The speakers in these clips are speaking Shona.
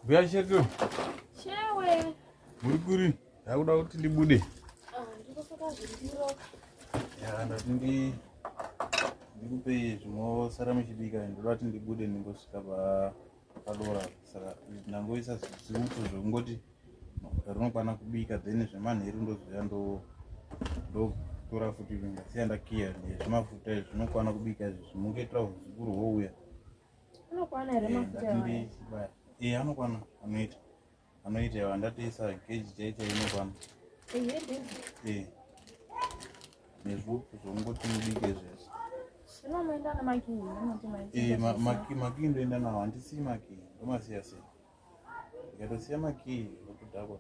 Mbuya Sheto. Shewe. Muri kuri? Ndakuda kuti ndibude. Ah, ndikosaka zvindiro. Ya, ndati ndi ndikupe zvinosara muchibika ndoda kuti ndibude ndingosvika pa padora saka ndangoisa zviuto zvekungoti mafuta rinokwana kubika then zvemanheru ndoziva ndo ndotora futi ndasiya ndakiya zvimafuta izvi zvinokwana kubika izvi zvimungoitira huzukuru houya anokwana here eh, mafuta e anokwana anoita anoita iwa ndatoisa geji chaita inokwana e nezvupu zvongoti mubike zvese maki ndoenda nawo handisii maki ndomasiya sei ndikatosiya makii okudhakwa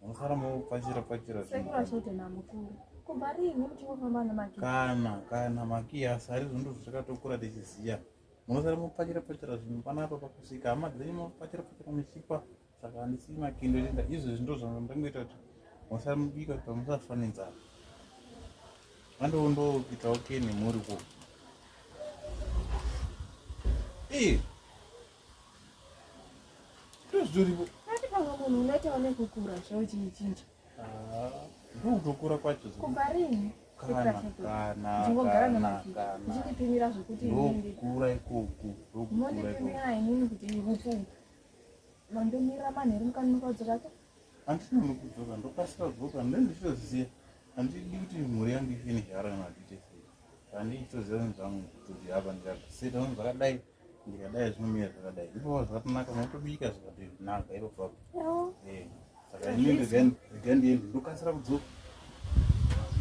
munosara mopfachira pfachira kana kana makii asi ari zvinhu zvakatokura tichiziva munosara mopfachira pfachira zvinhu panapa pakusvika hama dzenyu mopfachira pfachira muchipa saka handisi makindo enda izvezvi ndo zvandangoita kuti musara mubika pamusafanenzana Mando ndo kita okay ni muri ko. Eh. Tuzuri bo. Ati panga munhu unoita one kukura zvawo chichinja. Ah, ndo kutokura kwacho. Kubarini. Kana kana. Ndingogara namatika. Ndichipimira zvekuti ndindi. Kukura ikoko. Ndokukura ikoko. Ndipimira inini kuti ikoko. Mando mira manheru mukani mukadzoka. handina nokudzoka ndokasira kudzoka ndendichitoziva handidi kuti mhuri yangu ifene hara madite sei handichitoziva zvinhu zvangu kuti hapa ndikazviseta zvinhu zvakadai ndikadai zvinomira zvakadai ipova zvakatonaka motobika zvakati zvinaka ipopa eh, saka ini ndiga ndiende ndokasira kudzoka